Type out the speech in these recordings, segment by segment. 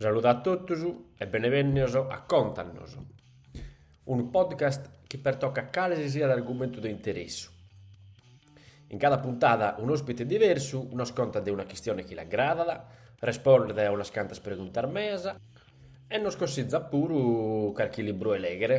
Saludu a totus e benevènnios a Contanos, unu podcast chi pertocat cale si siat argumentu de interessu. In cada puntada un'òspite diversu nos contat de una chistione chi l'agradat, respondet a unas cantas preguntas meas e nos consitzat puru carchi libru 'e lèghere.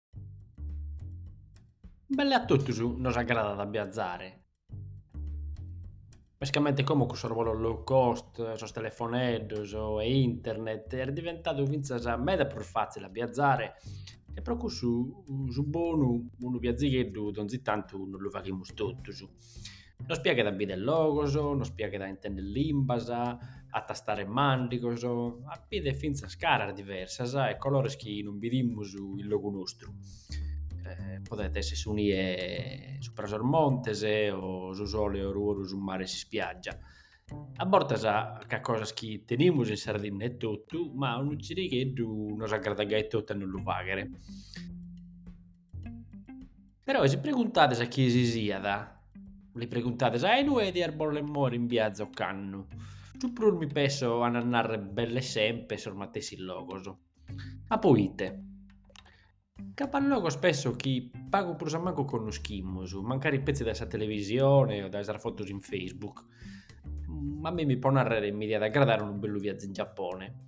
Belle a totus nos agradat a biazare, mescamente como cun sos bolos low cost, sos telefoneddos e internet est diventadu fintzas meda prus fatzile a biazare e pro cussu su bonu unu biazigheddu donzi tantu nos lu faghimus totus. Nos piaghet a bìdere logos, nos piaghet a intender limbas, a tastare màndigos, a bìdere fintzas caras diversas e colores chi non bidimus in logu nostru. Podet èssere su nie subra sos montes o su sole oru 'e su mare e s'ispiàgia. A bortas ca sunt cosas chi tenimus in Sardinna etotu, ma unu girigheddu nos agradat gai etotu a nos lu fàghere Però e si preguntades a chie si siat, li preguntades a inue dias bòler mòere in biazu ocannu, su prus mi pesso ant a narrer belle semper sos matessi logos. Ma poite? Ca b'at logos pesso chi pagu prus a mancu connoschimus, mancari petzi dae sa televisione o dae sas fotos in Facebook. Ma a mimmi, po narrer, mi diat aggradare unu bellu viazu in Giappone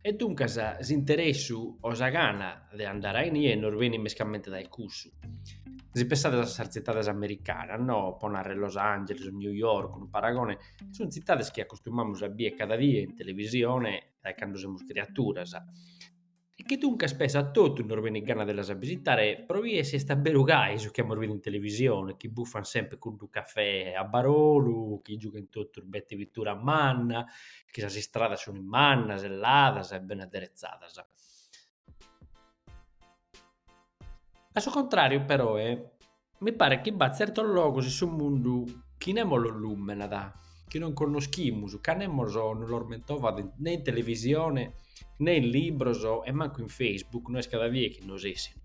E duncas s'interessu o sa gana de andare a inie nos benit mescamente dae cussu. Si pensades a sas tzitades americanas, no? po narrer Los Angeles o New York, unu paragone, sunt tzitades chi acostumamus a bier cada die in televisione dae cando semus criaturas e chi duncas pesso a totus nos benit gana de las bisitare pro bier si est aberu gai su chi amus bidu in televisione, chi buffant semper cuddu cafè a barolu, chi giughent totus bete vitura manna chi sas istradas sunt mannas e ladas e bene aderezadas. A su contràriu peroe mi paret chi b'at tzertos logos in su mundu chi nemos los lùmenat, chi non connoschimus ca nemos nos los mentovat ne in televisione ne in libros e mancu in Facebook no est cada die chi nos essint.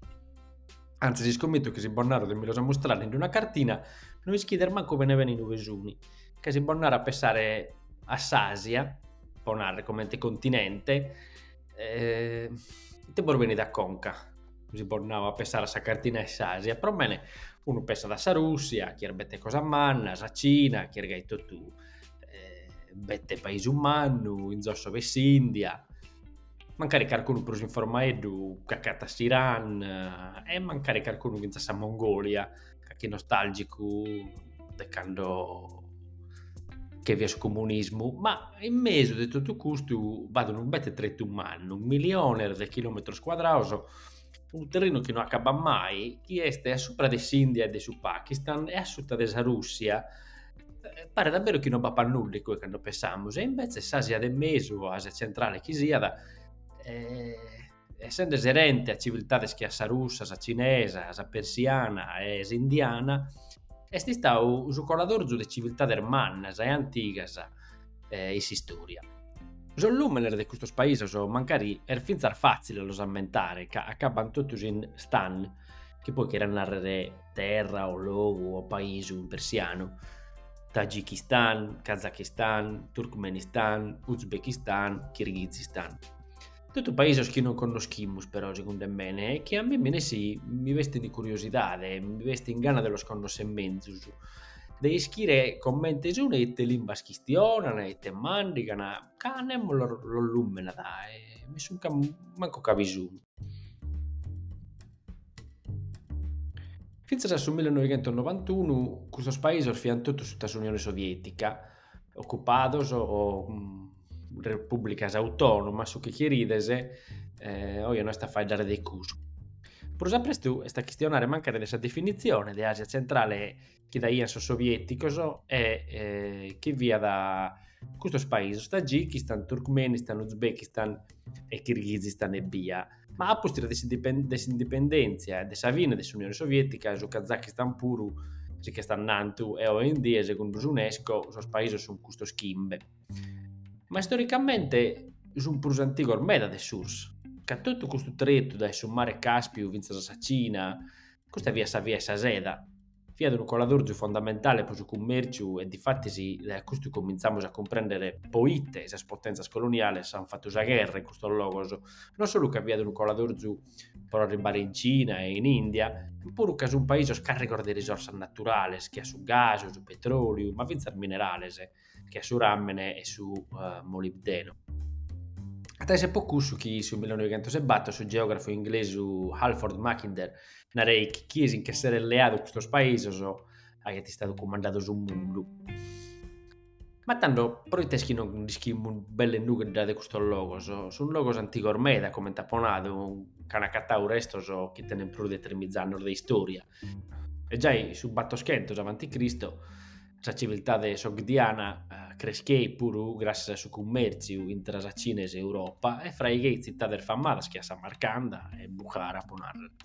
Antzis iscommito chi si bos naro de mi los amustrare in una cartina no ischides mancu bene bene inue sunt. Ca si bos naro a pessare a s'Asia, po narrer comente continente, ite bos benit a conca? Si bos nau a pessare a sa cartina 'e s'Asia, pro bene unu pessat a sa Russia chi est bete cosa manna, sa Cina chi est gai totu bete paisu mannu, in zosso b'est s'India, mancari carcunu prus informaeddu ch'acatat s'Iran e mancari carcunu fintzas sa Mongolia Calchi nostalgicu de cando bi fiat su comunismu, ma in mesu de totu custu b'at unu bete tretu mannu, miliones de chilometros cuadrados, unu terrinu chi no acabat mai, chi est a supra de s'India e de su Pakistan e a suta de sa Russia, paret a beru chi no b'apat nudda in cue cando pensamus e invece s'Asia de mesu o Asia centrale chi siat essende serente a civiltades che a sa russa, sa cinesa, sa persiana e s'indiana, est istadu su coladorzu de civiltades mannas e antigas in s'istòria. Sos nùmenes de custos paisos mancari est fintzas fàtzile a los ammentare ca acabbant totus in stan, chi poi cheriat nàrrere terra o logu o paisu in persianu, Tajikistan, Kazakistan, Turkmenistan, Uzbekistan, Kirghizistan. Totu paisos chi non connoschimus però segundu 'e mene e chi a mie mi nessi mi bestin de curiosidade, mi bestin gana de los connosser menzus, de ischire comente sun e ite limbas chistionan e ite mandigan, ca nemos los lumenat mai mancu ca bi sun. Fintzas a su millenoighentos nobantunu custos paisos fiant totu suta s'Unione Sovietica, Ocupados o repùblicas autònomas, su chi cherides, oe no est a faeddare de custu. Prus a prestu est a chistionare mancari de sa definitzione de Àsia Tzentrale chi daiant sos sovièticos e chi fiat custos paisos, Tagichistàn, Turkmenistan, Uzbekistan e Kirghizistan ebbia. Ma a pustis de s'indipendèntzia e de sa fine de s'Unione Sovietica, su Kazakistan puru si ch'est andàntu e oi in die, segundu s'Unesco, sos paisos sunt custos chimbe. Ma istoricamente sunt prus antigos meda de s'URSS. Ca totu custu tretu dae su mare Càspiu fintzas a sa Cina, Chi custa fiat sa via 'e sa seda, fiat unu coladorzu fondamentale pro su cummèrciu e difatis dae custu comintzamus a cumprèndere pro ite sas potèntzias coloniales ant fatu sa gherra in custos logos, non solu ca fiat unu coladorzu pro arribbare in Cina e in Ìndia, ma puru ca sunt paisos càrrigos de risorsas naturales, che a su gas, su petròliu, ma fintzas minerales. che a su ràmene e su molibdeno. At a èssere po cussu chi su 1904 su geògrafu inglesu Halford Mackinder nareit chi chie si nche seret leadu custos paisos diat àere cumandadu su mundu. Ma tando, proite est chi non nd'ischimus belle nudda de custos logos? Sunt logos antigos meda, comente apo nadu, ch'an acatadu restos chi tenent prus de trimìza annos de istòria. E giai su battoschentos avanti Cristo Sa civiltade sogdiana crescheit puru gràssias a su cummèrtziu intre sa Cina e s'Europa e fraigheit tzitades famadas che a Samarcanda e Bukhara, pro nàrrere.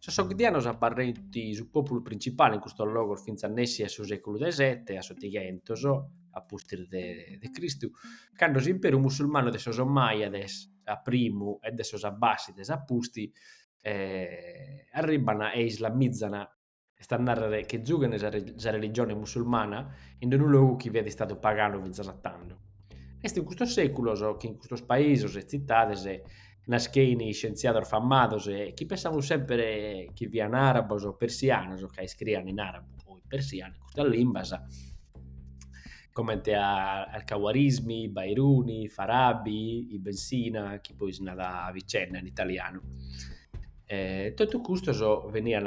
Sos sogdianos abarreint su pòpulu printzipale in custos logos fintzas nessi a su sèculu de sete, a s'otighentos, a pustis de Cristu, cando s'imperu musulmanu de sos Ommàjades a primu e de sos Abbàssides a pustis arribban e islamizan Est a nàrrere chi zughent sa religione musulmana in unu logu chi fiat istadu paganu fintzas a tando. Est in custos sèculos chi in custos paisos e tzitades naschein iscientziados famados chi pensamus semper chi fiant àrabos o persianos ca iscriian in àrabu o in persianu, in custas limbas. comente a Al-Khawarizmi, Bairuni, Farabi, Ibn Sina, chi poi si narat Avicenna in italianu. E, totu custos venian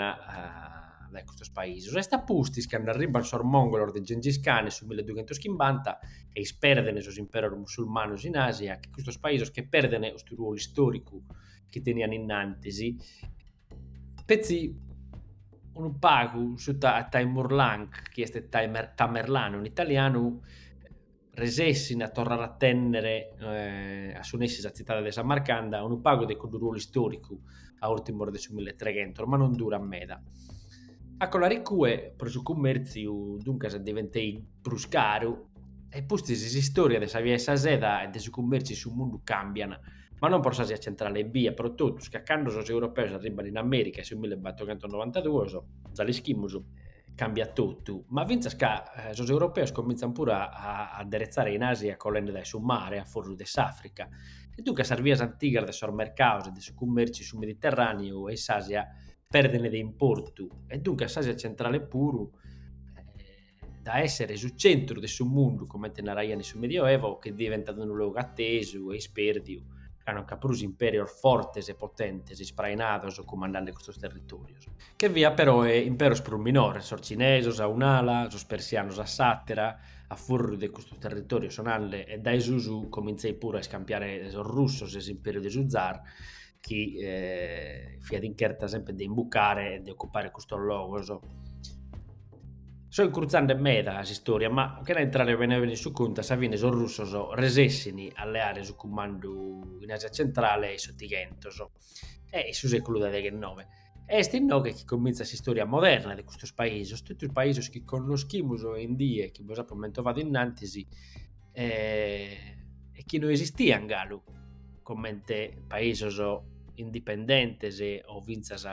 dae custos paisos. Est a pustis, cando arribant sos mongolos de Gengis Khan in su 1250 e isperdent sos imperos musulmanos in Asia, chi custos paisos che perdent custu ruolu istoricu chi tenian innantis, Petzi unu pagu suta Taimurlang, chi est Tamerlanu in italianu, resessin a torrare a tènnere a su nessi sa tzitade de Samarcanda, unu pagu de cuddu ruolu istòricu a ùrtimos de su milletreghentos, ma non durat meda. A colare cue, pro su cummèrtziu, duncas, diventeit prus caru e pustis s'istòria de sa Via 'e sa Seda e de su cummèrtziu in su mundu càmbian, ma non pro s'Asia Tzentrale ebbia, pro totus ca cando sos europeos arribban in Amèrica in su millebattochentonnovantaduos, già l'ischimus, cambiat totu, ma fintzas ca sos europeos comintzan puru a adderetzare in Asia colende dae su mare a fùrriu de s'Àfrica e duncas sas vias antigas de sos mercados e de su cummèrtziu in su Mediterràneu e in s'Asia pèrdene de importu e duncas s'Asia Tzentrale puru, da essere su centru de su mundu, comente naraian in su Medioevo, che diventat unu logu attesu e ispérdiu, ca non nch'at prus impérios fortes e potentes isprainados cumandande custos territórios. Che fiant peroe impéros prus minores, sos cinesos a un'ala, sos persianos a s'àtera, a fùrriu de custos territórios sonande e dae susu comintzeit puru a iscampiare sos russos e s'impériu de su zar, chi eh, fiat in cherta sempre de imbucare e de occupare custos logos. So incruzande meda s'istòria, ma chena intrare bene bene in su contu, a sa fine sos russos resessin a leare su cumandu in Asia Centrale in s'Otighentos, in su seculu de deghenove. Est inoghe chi comintzat s'istòria moderna de custos paisos, totu sos paisos chi connoschimus oe in die, chi bos apo mentovadu in antis, e chi no esistian galu comente paisos indipendentes o fintzas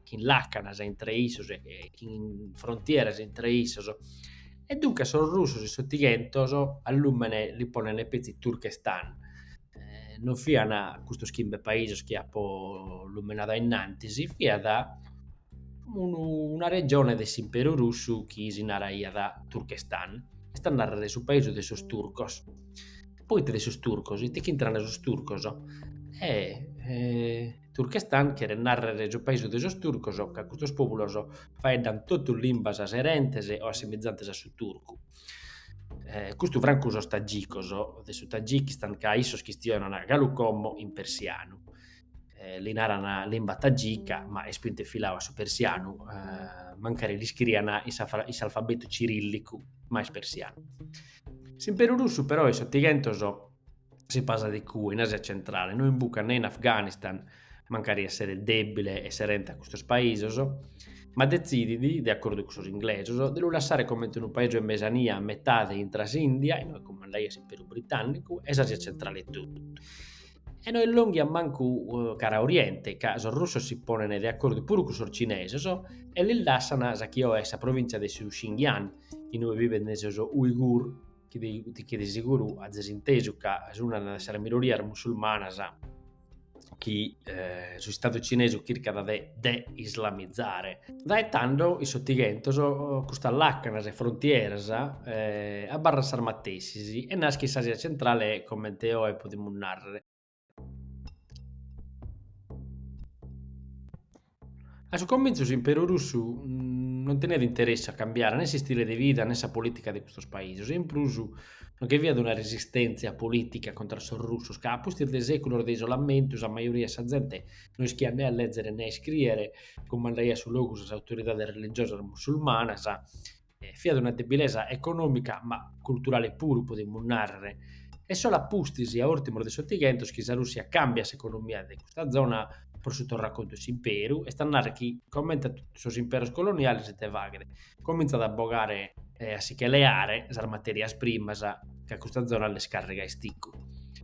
chin làcanas intre issos e chin frontieras intre issos, e duncas sos russos in s'Otighentos a lùmene li ponent petzi Turkestan, non fian custos chimbe paisos chi apo lumenadu innantis, fiat unu una regione de s'imperu russu chi si naraiat Turchestan, est a narrer su paisu de sos turcos, proite de sos turcos, ite ch'intrana sos turcos, e Turchestan cheret narrer su paisu de sos turcos ca custos populos faeddan totu limbas serentes o assimizantes a su turcu Eh, custu francu sos tagicos de su Tagikistan, ca issos chistionan galu como in persianu, eh, li naran limba tagica, ma est pintu e filau a su persianu, eh, mancari l'iscrian in s'alfabetu cirillicu, ma est persianu. S'Imperu Russu però in s'Otighentos si pasat iccue, in Asia Centrale, no imbucat ne in Afganistan, mancari esseret dèbile e serente a custos paisos, ma detzidit, de acordu cun sos inglesos, de lu lassare comente unu paisu in mesania a metade intra s'India, inue cumandaiat s'Imperu Britànnicu, e s'Asia Centrale totu. E no illònghiat mancu cara Oriente, ca sos russos si ponent de acordu puru cun sos cinesos e lis lassan sa chi oe est sa provìntzia de su Xinjiang, inue bivent sos Uighur, chi de, chi de seguru azes intesu ca est una de sas minorias musulmanas chi eh, su Istadu cinesu chircat de de-islamizare. Dae tando, in s'Otighentos, custas lacanas e frontieras eh, abarrant sas matessis e naschit s'Asia Centrale comente oe podimus nàrrere. A su comintzu s'Imperu Russu non teniat interesse a cambiare ne s'istile de vida ne sa politica de custos paisos e in prus non che fiat una resistentzia politica contra sos russos ca a pustis de seculos de isolamentu sa majoria de sa zente non ischiat nè a lèzere nè a iscrìere, cumandaiat su logu sas autoridades religiosas musulmanas. E fiat una debilesa econòmica, ma culturale puru, podimus nàrrere. Est solu a pustis, a ùrtimos de s'Otighentos, chi sa Rùssia càmbiat s'economia de custa zona pro su torracontu 'e s'imperu, est a nàrrere chi, comente a totu sos imperos coloniales ite faghet, comintzat a bogare e a si che leare sas matèrias primas ca custa zona nd'est càrriga a isticu.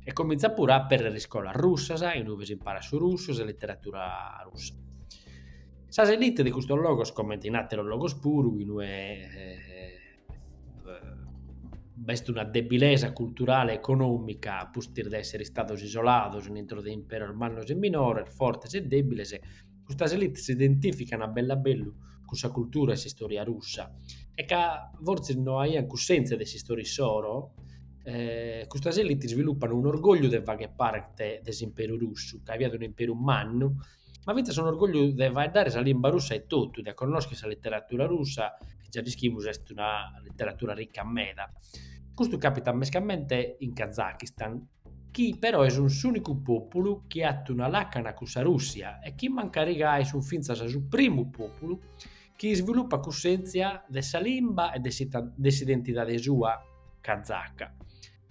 E comintzat puru a apèrrere iscolas russas in ue s'imparat su russu e sa literatura russa. Sas elite de custos logos, comente in àteros logos puru, in ue b'est una debilesa culturale e econòmica pustis de èssere istados isolados in intro de imperos mannos e minores, fortes e dèbiles, custas elite s'identìficant a bellu a bellu cun sa cultura e s'istòria russa e ca fortzis no aiant cussèntzia de s'istòria issoro, custas elite isvilupan un'orgògliu de fagher parte de s'imperu russu, ca fiat un'imperu mannu ma fintzas un'orgògliu de faeddare sa limba russa etotu, de connòschere sa literatura russa, chi già l'ischimus est una literatura rica meda. Custu càpitat mescamente in Kazakistan, chi però est un s'ùnicu pòpulu chi at una làcana cun sa Rùssia e chi mancari gai sunt fintzas su primu pòpulu chi isvilupat cussèntzia de sa limba e de s'identidade sua kazaka.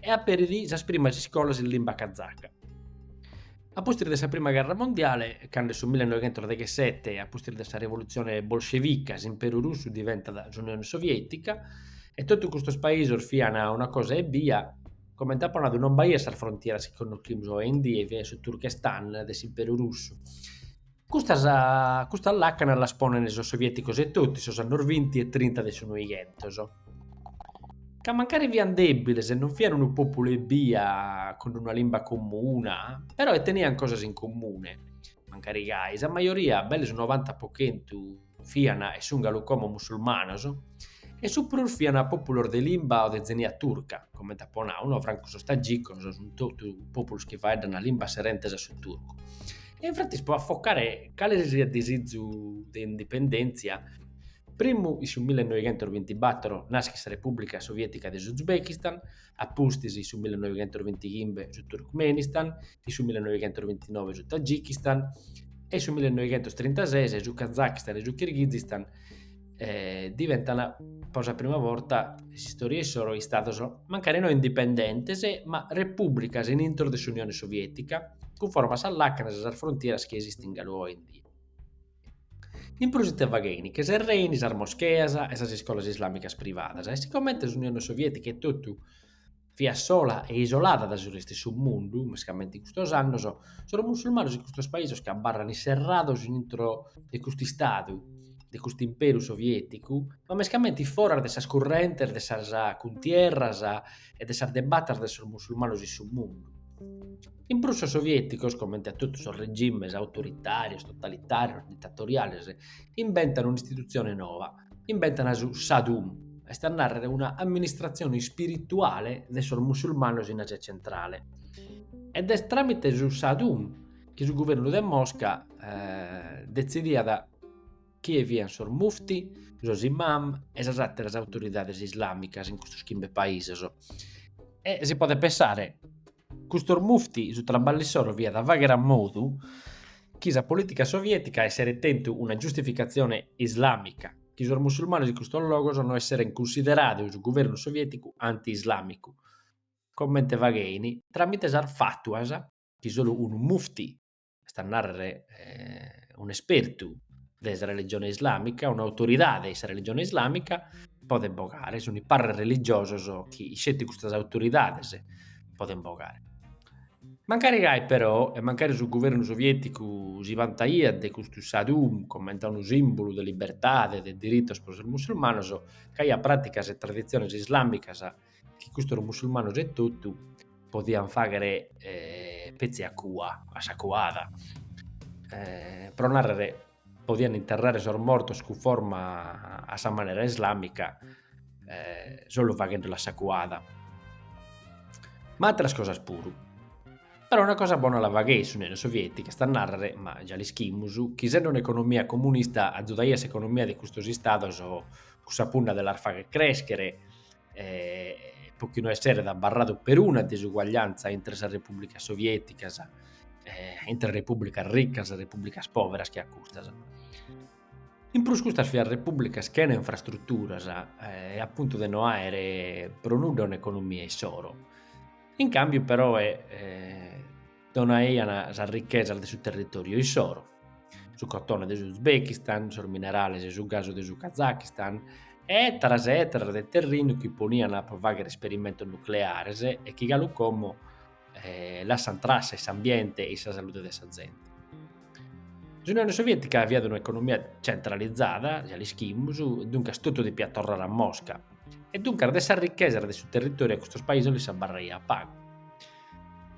e aperit sas primas iscolas in limba kazaca. A pustis de sa prima gherra mondiale, cando su 1917, a pustis de sa rivolutzione bolscevica, s'Imperu Russu diventat s'Unione Sovietica, e totu custos paisos fiant una cosa ebbia, comente apo nadu non b'aiat sas frontieras chi connoschimus oe in die, fiat su Turkestan de s'Imperu Russu, Custas custas lacanas las ponent sos sovieticos etotu in sos annos vinti e trinta de su Noighentos, ca mancari fiant dèbiles e non fiant unu pòpulu ebbia cun una limba comuna, però e teniant cosas in comune, mancari gai sa majoria, belle su novanta po chentu, fian e sun galu como musulmanos, e su prus fian pòpulos de limba o de tzenia turca, comente apo nau, no francu sos tagicos, sun totu pòpulos chi faeddan limbas serentes a su turcu. E infatis pro afocare cale sesiat disizu de indipendèntzia, primu in su millenoighentos bintibator naschet sa Repùblica Sovietica de s'Uzbekistan, a pustis in su millenoighentusbintichimbe su Turkmenistan, in su millenoighentusbintinove su Tagikistan e in su millenoighentustrintases su Kazakistan e su Kirghizistan diventan pro sa prima borta in s'istòria issoro istados mancari no indipendentes ma repùbricas in intro de s'Unione Soviètica cunforma a sas làcanas e a sas frontieras chi esistin galu oe in die. In prus ite faghein che serren sas moscheas e sas iscolas islàmicas privadas e sigomente s'Unione Soviètica etotu fiat sola e isolada dae su restu 'e su mundu, mescamente in custos annos, sos musulmanos in custos paisos che abarrant inserrados intro de custu Istadu, de custu Imperu Sovièticu, ma mescamente foras de sas currentes de sas cuntierras, e de sas debatas de sos musulmanos in su mundu. In prus sos sovieticos, comente a totu sos regimes autoritarios, totalitarios, ditatoriales, imbentan un'istitutzione nova, imbentan su Sadum, est a nàrrere una amministratzione ispirituale de sos musulmanos in Asia Centrale. Ed est tràmite su Sadum chi su guvernu de Mosca eh, detzidiat chie fiant sos mufti, sos imam e sas àteras autoridades islàmicas in custos chimbe paisos. E si podet pensare, custos mufti su traballu issoro fiat a fàghere a modu chi sa polìtica soviètica esseret tentu una giustificatzione islàmica, chi sos musulmanos in custos logos no esseren cunsideradu su guvernu sovièticu anti-islàmicu, comente faghein, tràmite sas fatuas chi solu unu mufti est a nàrrere un'espertu de sa religione islàmica, un'autoridade de sa religione islàmica, podent bogare, sunt is parres religiosos chi isceti custas autoridades podent bogare. Mancari gai però, e mancari su guvernu sovieticu si vantaiat de custu Sadum comente a unu simbulu de libertade e de diritos pro sos mussulmanos b'aiat praticas e traditziones islàmicas chi custos musulmanos e totu podian fàghere petzi a cua, a sa cuada, pro nàrrere podian interrare sos mortos cunforma a sa manera islàmica solu faghende·la a sa cuada, ma atteras cosas puru, però una cosa bona la fagheit s'Unione Sovietica, est a nàrrere, ma già l'ischimus, chi sende un'economia comunista azudaiat s'economia de custos istados cun sa punna de las fagher crèschere eh, pro chi no esseret abarradu peruna disuguagliantza intre sas repùblicas sovieticas, eh, intre repùblicas ricas e repùblicas pòveras che a custas. In prus custas fiant repùblicas chena infrastruturas eh, e a puntu de no àere pro nudda un'economia issoro. In càmbiu però eh, donaian sas richesas de su territòriu issoro, su cotone de s'Uzbekistan, sos minerales e su gasu de su Kazakistan, e ètaros e ètaros de terrinu chi ponian pro fàghere isperimentos nucleares e chi galu como eh, lassant trassa in s'ambiente e in sa salude de sa zente. S'Unione Sovietica aiat un'economia centralizada, già l'ischimus, duncas totu depiat torrare a Mosca, e duncas de sas richesas de su territòriu a custos paisos lis abarraiat pagu.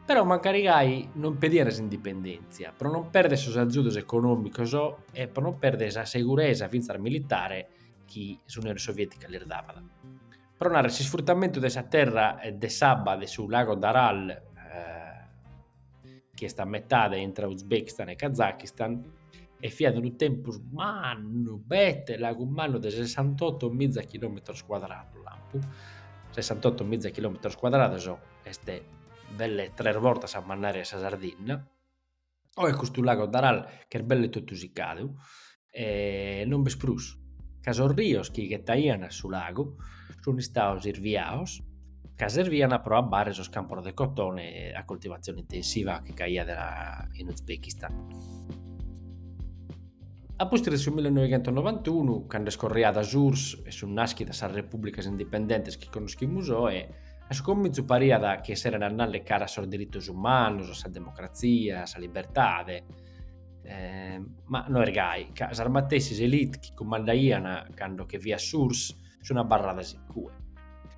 Però mancari gai non pediant s'indipendèntzia, pro no pèrdere sos agiudos econòmicos e pro no pèrdere sa seguresa fintzas militare chi s'Unione Soviètica lis davat. Pro narrer, s'isfrutamentu de sa terra e de s'abba de su lago d'Aral, chi est a metade intre Uzbekistan e Kazakistan, e fiat unu tempus mannu, bete lagu mannu de sessantotto miza chilòmetros cuadrados, lampu, sessantotto miza chilòmetros cuadrados, est belle tres bortas sa mannària 'e sa Sardinna, oe custu lago d'Aral ch'est belle totu sicadu e non b'est prus, ca sos rios chi ghetaian a su lagu sun istados isviados ca servian pro abbare sos campos de cotone a coltivazione intensiva chi c'aiat in Uzbekistan. A pustis de su millinoighentonovantunu, cando est iscorriada s'URSS e sun nàschidas sas repùblicas indipendentes chi connoschimus oe, A su comintzu pariat chi esserent andande cara a sos diritos umanos, a sa democratzia, a sa libertade, ma no est gai, ca sas matessis élite chi cumandaian cando che fiat s'URSS sun abarradas in cue.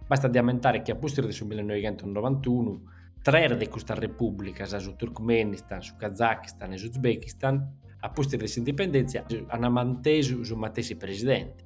Bastat de ammentare chi a pustis de su millenoighentonovantunu, tres de custas repùblicas, su Turkmenistan, su Kazakistan e s'Uzbekistan, a pustis de s'indipendèntzia, ant mantesu su matessi presidente.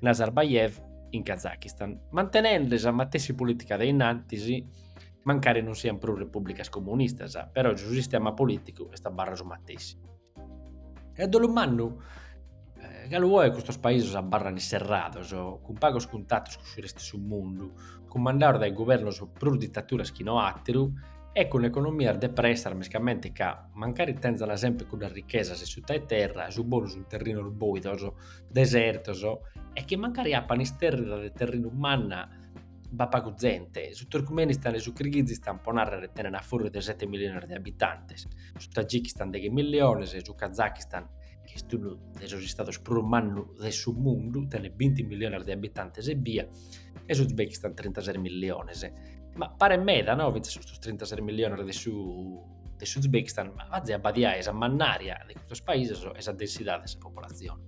Nazarbayev in Kazakistan, mantenende sa matessi polìtica de in antis, mancari non siant prus repùblicas comunistas, però su sistema polìticu est abarradu su matessi. E a dolu mannu, galu oe custos paisos abarran isserrados, cun pagos cuntatos cun su restu 'e su mundu, cumandados dae guvernos prus ditaturas chi no àteru e cun economias depresas mescamente ca, mancari tenzana semper cuddas richesas in suta 'e terra, su bonu sunt terrinos bòidos, desertos e chi mancari apan istèrrida de terrinu manna b'at pagu zente, su Turkmenistan e su Kirghizistan po nàrrere tenent a fùrriu de sete miliones de abitantes, su Tagikistan deghe miliones, su Kazakistan, chi est unu de sos istados prus mannu de su mundu, tenet binti miliones de abitantes ebbia, e su Uzbekistan trintases miliones. Ma paret meda no fintzas custos trintases miliones de su de s'Uzbekistan ma bazi abbadiae sa mannària de custos paisos e sa densidade de sa populatzione.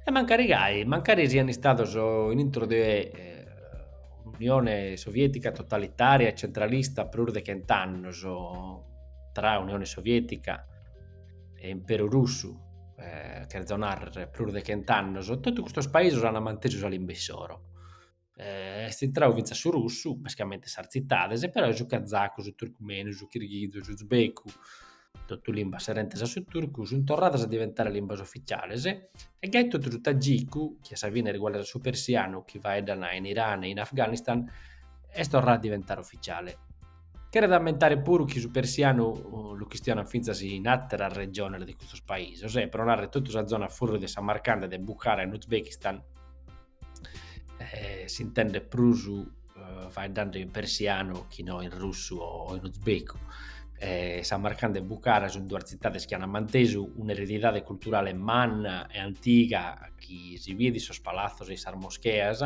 E mancari gai, mancari sian istados in intro de un'Unione Sovietica totalitària e centralista prus de chent'annos, tra Unione Sovietica e Imperu Russu, cherzo narrer prus de chent'annos, totu custos paisos an mantesu sa limba issoro. Est intrau fintzas su russu, basicamente sas tzitades, però su cazacu, su turcumenu, su kirghizu, su uzbeku, totu limbas serentes a su turcu, sunt torradas a diventare limbas oficiales, e gai totu su tajiku, chi a sa fine est iguale a su persianu, chi faeddan in Iran e in Afghanistan, est torrau a diventare oficiale. Cheret a ammentare puru chi su persianu lu chistionant fintzas in àteras regiones de custos paisos, e pro narrer totu sa zona fùrriu de Samarcanda e de Bukhara in Uzbekistan, eh, s'intendet prus eh, faeddando in persianu chi no in russu o in uzbecu. Eh, Samarcanda e Bukhara sunt duas tzitades chi ant mantesu un'eredidade culturale manna e antiga chi si biet in sos palazzos e in sas moscheas,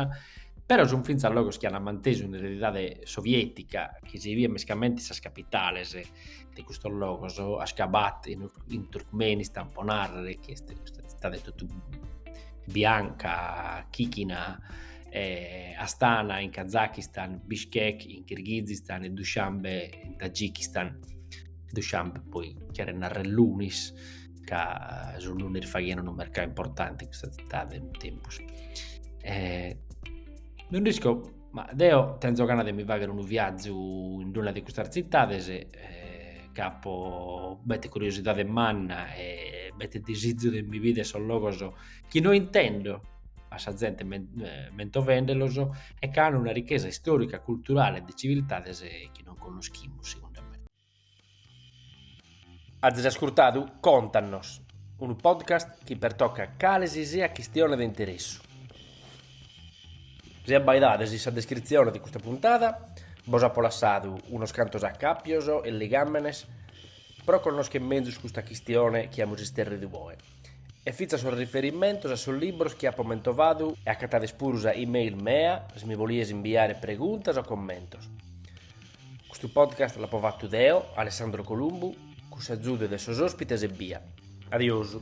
però sunt fintzas logos chi ant mantesu un'eredidade sovietica chi si biet mescamente in sas capitales, de custos logos, Ashgabat in, in Turkmenistan, po narrere, chi est custa tzitade totu bianca, chichina, eh, Astana in Kazakistan, Bishkek in Kirghizistan e Dushanbe in Tajikistan. Dushanbe poi cheret narrere lunis, ca su lunis faghian unu mercau importanti in custa tzitade in su tempus. Eh, no isco Ma deo tenzo gana de mi fagher unu viàgiu in d-una de custas tzitades, ch'apo bete curiosidade manna e bete disizu de mi bider sos logos chi no intendo a sa zente mentovendelos e chi an una richesa istorica, culturale e de civiltades chi non connoschimus segundu mene. Azis ascurtadu Contanos, unu podcast chi pertocat cale si siat chistione de interessu. Si abbaidades in sa descritzione de custa puntada bos apo lassadu unos cantos acàpios e ligàmenes pro connoschere mezus custa chistione chi amus isterridu oe e fintzas sos riferimentos a sos libros chi apo mentovadu e acatades puru sa e-mail mea si mi bolides inviare preguntas o commentos. Custu podcast l'apo fatu deo, Alessandro Columbu, cun s'azudu de sos òspites ebbia. Adiosu.